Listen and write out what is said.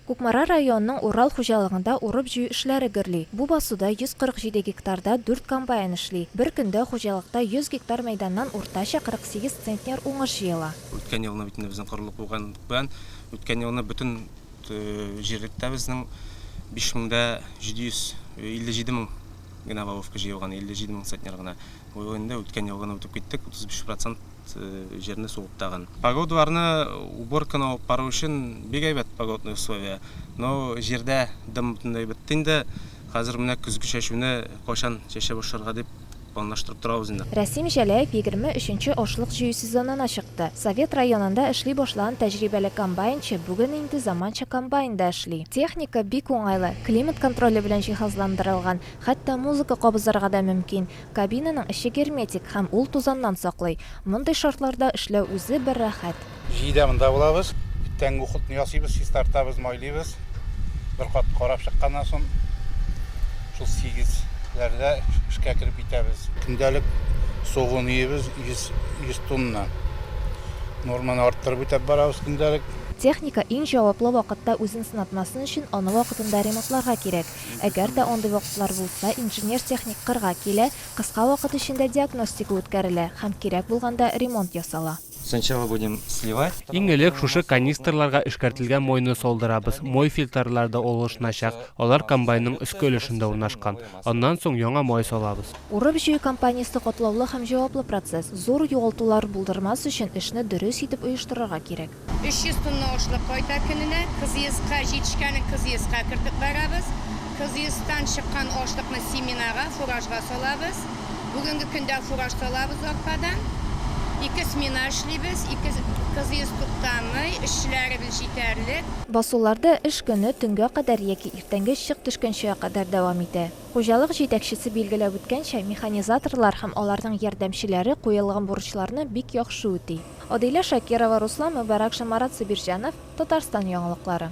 Кукмара районының Урал хуҗалыгында урып-җыю эшләре гөрли. Бу басуда 147 гектарда дүрт комбайн эшли. Бер көндә хуҗалыкта 100 гектар мәйданнан уртача 48 центнер уңыш җыела. Үткән елны бит инде безнең корылык булган белән үткән елны бөтен җирлектә безнең 5 меңдә 757 мең генә лавовка җыелган, 57 мең центнер гына. Быел инде үткән елгыны үтеп киттек, 35 процент. вакыт җирне сугып тагын. Погодварны уборканы алып бару өчен бик әйбәт погодный условия. Но җирдә дым бөтенләй бетте инде. Хәзер менә көзге чәчүне кайчан чәчә башларга дип планлаштырып торабыз инде. Рәсим Җәләев егерме өченче ашлык җыю сезонына чыкты. Совет районында эшли башлаган тәҗрибәле комбайнчы бүген инде заманча комбайнда эшли. Техника бик уңайлы, климат контроле белән җиһазландырылган, хәтта музыка кабызырга да мөмкин. Кабинаның эче герметик һәм ул тузаннан саклый. Мондый шартларда эшләү үзе бер рәхәт. Җиде дә монда булабыз. Тәнге ухутны ясыйбыз, чистартабыз, майлыйбыз. Бер кат карап чыкканнан соң, шул сигезләрдә эшкә кереп китәбез. Көндәлек сугуын өйебез 100 тонна. Норманы арттырып үтәп барабыз көндәлек. Техника иң җаваплы вакытта үзен сынатмасын өчен аны вакытында ремонтларга кирәк. Әгәр дә андый вакытлар булса, инженер-техник кырга килә, кыска вакыт эчендә диагностика үткәрелә һәм кирәк булганда ремонт ясала. Сначала будем сливать. Иң элек шушы канистрларга эшкәртелгән мойны салдырабыз, мой фильтрлар да алышыначак, алар комбайнның өске өлешендә урнашкан. Аннан соң яңа май салабыз. Урып-җыю кампаниясе катлаулы һәм җаваплы процесс, зур югалтулар булдырмас өчен эшне дөрес итеп оештырырга кирәк. 300 тонна ашлык кайта көненә. Кызыеска җитешкәнен кызыеска кертеп бәрәбез. Кызыестан чыккан ашлыкны семенага, фуражга салабыз. Бүгенге көндә фураж салабыз аркадан. Ике смена эшлибез, ике кызыес туктамый, эшчеләребез җитәрлек. Басуларда эш көне төнгә кадәр яки иртәнге чык төшкәнчегә кадәр дәвам итә. Хуҗалык җитәкчесе билгеләп үткәнчә, механизаторлар һәм аларның ярдәмчеләре куелган бурычларны бик яхшы үти. Адилә Шакирова, Руслан Мөбарәк ша Марат Сабирҗанов, Татарстан яңалыклары.